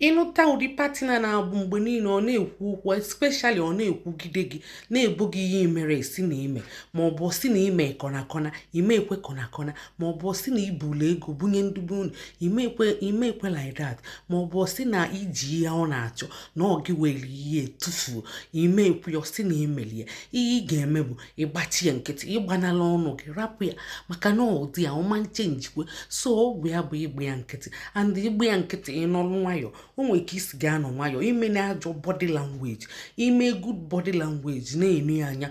ịnụta ụdị partner na-abụ mgbe niile ọ na-ekwu okwu especially ọ na-ekwugide gị na-ebo gị ihe imerọ sị na ime ma ọ bụ sị na ime kọnakọna ime ekwe kọnakọna ma ọ bụ sị na ibulu ego bunye ndị be unu ime ekwe like that ma ọ bụ sị na iji ihe ọ na-achọ na ọ gị were ihe tufuo ime ekwe ọ sị na imeli ya ihe ị ga-eme bụ ịgbachi ya nkịtị ịgbanala ọnụ gị rapụ ya maka na ụdị ya ọ ma changekwe so ọgwụ ya bụ ịgba ya nkịtị and ịgba ya nkịtị ịnọrụ nwayọọ o nwere ka isi ga-anọ nwayọọ imena ajọ body language ime good body language na-ene ya anya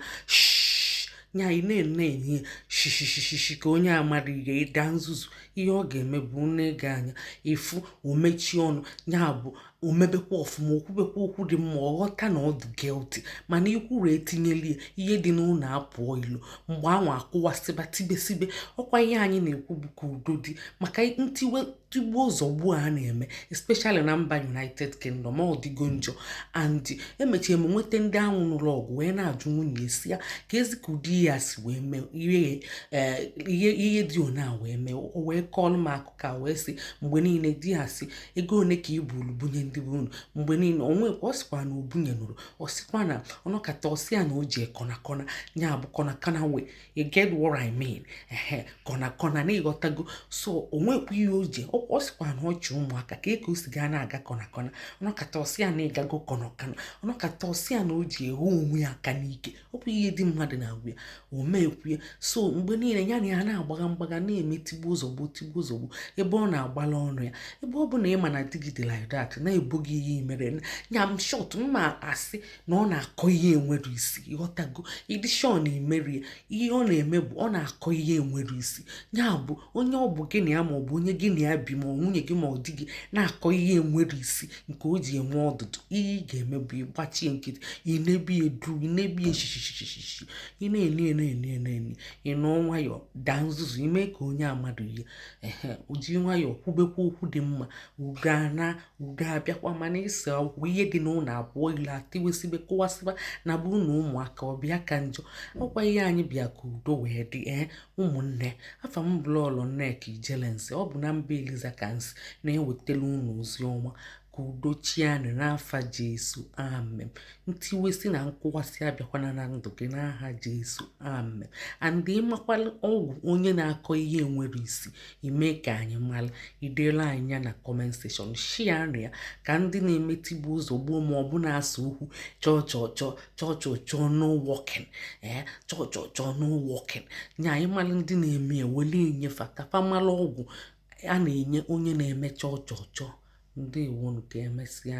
nya ị na-enene ya shishishishi ka onye amarọ ihe ịda nzuzu ihe ọ ga-eme bụ nee gị anya efu o mechie ọnụ ya bụ o mebekwa ọfụma o kwubekwa okwu dị mma ọ ghọta na ọ dị guilty mana ikwuru etinyela ya ihe dị n'ụlọ apụọ ilo mgbe anwa akụwasịba tibesibe ọkwa ihe anyị na-ekwu bụ ka udo dị maka tigbuo zọgbuo a na-eme especially na mba united kingdom ọ dịgo njọ and emechie m nweta ndị ahụ nụlụ ọgụ wee na-ajụ nwunye ya sị ya kezi ka ụdị ya si wee mee ihe dị ona wee mee o wee kọọlụ m akụkọ wee sị mgbe niile di ya sị ego one ka i bulu bunye ndị be unu mgbe niile o nwekwa ọ sịkwa na o bunyenụrọ ọ sịkwa na ọ nọkata ọ sị ya na o je kọna kọna ya bụ kọna kọna we you get what I mean ehe kọna kọna na ịghọtago so o nwekwa ihe o ji ọ sịkwa na ọ chị ụmụaka kee ka o si ga na-aga kọna kọna ọ nọkata ọ sị ya na ịgago kọna kọna ọ nọkata ọ sị ya na o ji ehu onwe ya aka n'ike ọ bụ ihe di mmadụ na-agwa ya o meekwu ya so mgbe niile ya na ya na-agbaga mgbaga na-eme tigbuo zọgbuo tigbuo zọgbuo ebe ọ na-agbala ọnụ ya ebe ọ bụ na ị ma na di gị dị like that na-ebo gị ihe imerọ ya in short mma asị na ọ na-akọ ihe enwerọ isi ịghọtago ị dị sure na imerọ ya ihe ọ na-eme bụ ọ na-akọ ihe enwerọ isi ya bụ onye ọ bụ gị na ya ma ọ bụ onye gị na ya bi ma ọ nwunye gị ma ọ di gị na-akọ ihe enwerọ isi nke o ji enwe ọdụdụ ihe ị ga-eme bụ ịgbachi ya nkịtị ị nebe ya duu ị nebe ya shishishishishi ị na-ene ene ene ene ene ị nọ nwayọọ daa nzuzu ime ka onye amadụ ihe ehe o ji nwayọọ kwubekwa okwu dị mma udo na udo abịakwa mana ịsa okwu ihe dị n'ụlọ apụọ ilo a tiwesibe kụwasịba na bụrụ na ụmụaka ọ bịa ka njọ ọkwa ihe anyị bịa ka udo wee dị ee Ụmụnne, afa m bụ Lọọlọ Nneka Ijelense. Ọ bụ na mba Eliza ka m si na-ewetara unu ozi ọma ka udo chịanụ n'afa Jesu. Amen. Ntiwesi na nkụwasị abịakwana na ndụ gị n'aha Jesu. Amen. And ịmakwara ọgwụ onye na-akọ ihe enwerọ isi imee ka anyị mara idela anyị ya na comment section share nụ ya ka ndị na-eme tigbuo zọgbuo ma ọ bụ na-asa okwu chọọ chọọ chọọ chọchọchọ no working ee chọchọchọ no working nya anyị malụ ndị na-eme ewelu enye fa ka fa malụ ọgwụ a na-enye onye na-eme chọchọchọ ndewonu ka emesịa